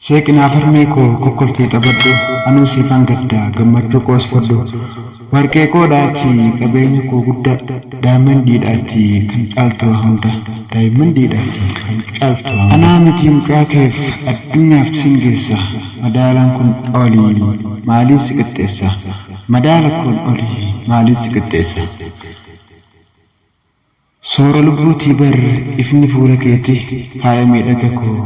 Seeqi naaf harmee koo kokkolfii taphadhu anuu siifan gadda gammachuu koos fudhu Warqeekoo dha ati qabeenya koo gudda Diamond dha ati kan caaltu waa hunda Diamond dha ati kan caaltu waa hunda Anaa miti mucaa keef addunyaaf sin geessa Madaalaan kun oli maaliin si qixxeessa Madaala kun oli maaliin si qixxeessa. Soora lubbuutii bar ifni fuula keeti faaya miidhaga koo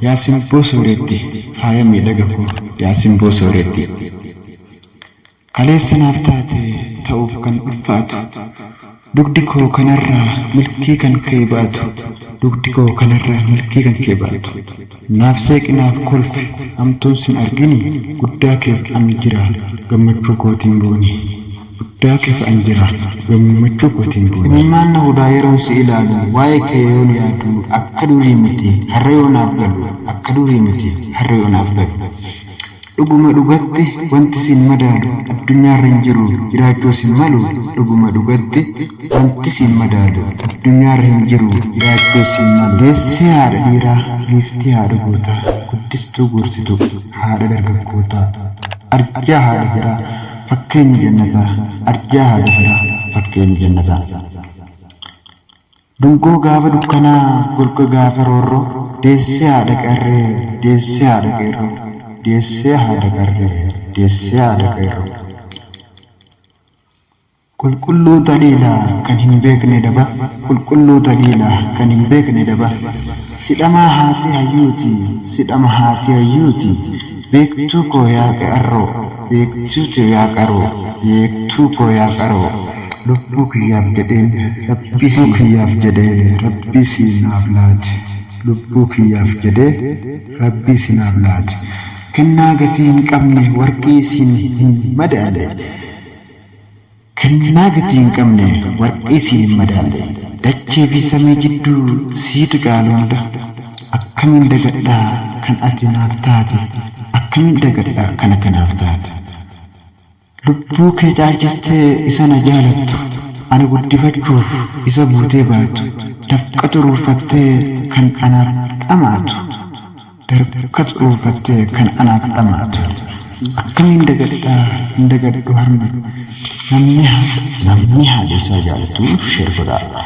yaa simboo sooretti faaya miidhaga koo yaa simboo sooretti Kaleessa naaf taate ta'uuf kan ulfaatu dugdi koo kanarraa milkii kan kee baatu dugdi koo kanarraa milkii kan kee baatu Naaf seeqi naaf kolfi hamtuun sin argini guddaa keef an jira gammachuu kootiin booni. guddaa keesaan jira gammachuu kootiin boona. Imimmaan na hudaa yeroon si ilaalu waa'ee kee yoon yaadu akka durii miti har'a yoo naaf galu akka durii miti har'a yoo naaf galu Dhuguma dhugatti wanti siin madaalu addunyaarra hin jiru jiraachuus hin malu Dhuguma dhugatti wanti siin madaalu addunyaarra hin jiru jiraachuus hin malu Deessee haadha dhiiraa giiftii haadha gootaa guddistuu gorsituu haadha dargaggootaa arjaa haadha firaa Fakkeenyi Jannataa arjaa haadha firaa Fakkeenyi Jannataa Dungoo gaafa dukkanaa Golga gaafa roorroo Deessee haadha qeerree Deessee haadha qeerroo Deessee haadha qarree Deessee haadha qeerroo Qulqulluu taliila kan hin beekne daba Qulqulluu taliila kan hin beekne daba Si dhama haati hayyuuti Si dhama haati hayyuuti Beektuu koo yaa qe'arroo beektuu tee yaa qaroo beektuu koo yaa qaroo. Lubbuu kiyyaaf jedheen rabbii sii. Lubbuu kiyyaaf jedhee rabbii sii naaf laate Lubbuu kiyyaaf jedhee rabbii sii naaf laate Kennaa gatii hin qabne warqii siin hin madaalle. Kennaa gatii hin qabne warqii siin hin madaalle dachee fi samii jidduu sii tuqaan hunda akkamiin dagadha kan ati naaf taate akkamiin dagadha kan ati naaf taate lubbuu kee caalchistee isa na jaalattu ana guddifachuuf isa buutee baatu dafqa xuruurfattee kan anaaf dhama'atu Dargaggoo dhuunfattee kan anaaf dhamaatu. Akkamiin dagadhaa hin dagadhu harma namni haasa. Namni haala isaa jaalatu sheer godhaa.